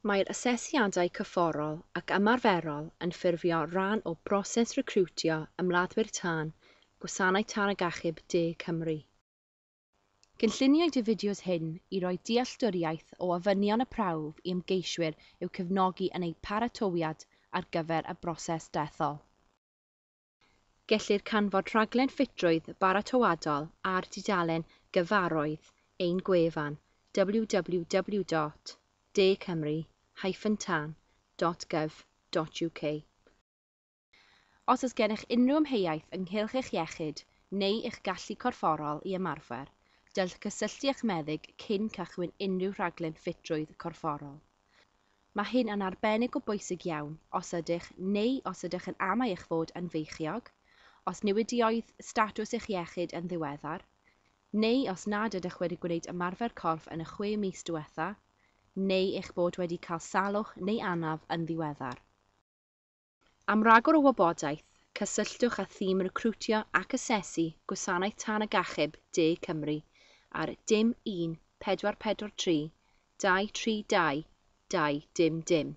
Mae'r asesiadau cyfforol ac ymarferol yn ffurfio rhan o broses recriwtio ymladdwyr tân Gwasanaeth Tân ac Achub De Cymru. Cynlluniwyd y fideos hyn i roi dealltwriaeth o ofynion y prawf i ymgeiswyr i'w cefnogi yn eu paratoiad ar gyfer y broses dethol. Gellir canfod rhaglen ffitrwydd baratoadol ar dudalen gyfarwydd ein gwefan www.dcymru-tan.gov.uk. Os oes gennych unrhyw amheuaeth ynghylch eich iechyd neu eich gallu corfforol i ymarfer, dylch gysylltu â'ch meddyg cyn cychwyn unrhyw rhaglen ffitrwydd corfforol. Mae hyn yn arbennig o bwysig iawn os ydych neu os ydych yn amau eich fod yn feichiog, os newidiodd statws eich iechyd yn ddiweddar, neu os nad ydych wedi gwneud ymarfer corff yn y chwe mis diwetha', neu eich bod wedi cael salwch neu anaf yn ddiweddar. Am ragor o wybodaeth, cysylltwch â thîm recriwtio ac asesu Gwasanaeth Tân ac Achub De Cymru ar dim 1443 232 2 dim dim.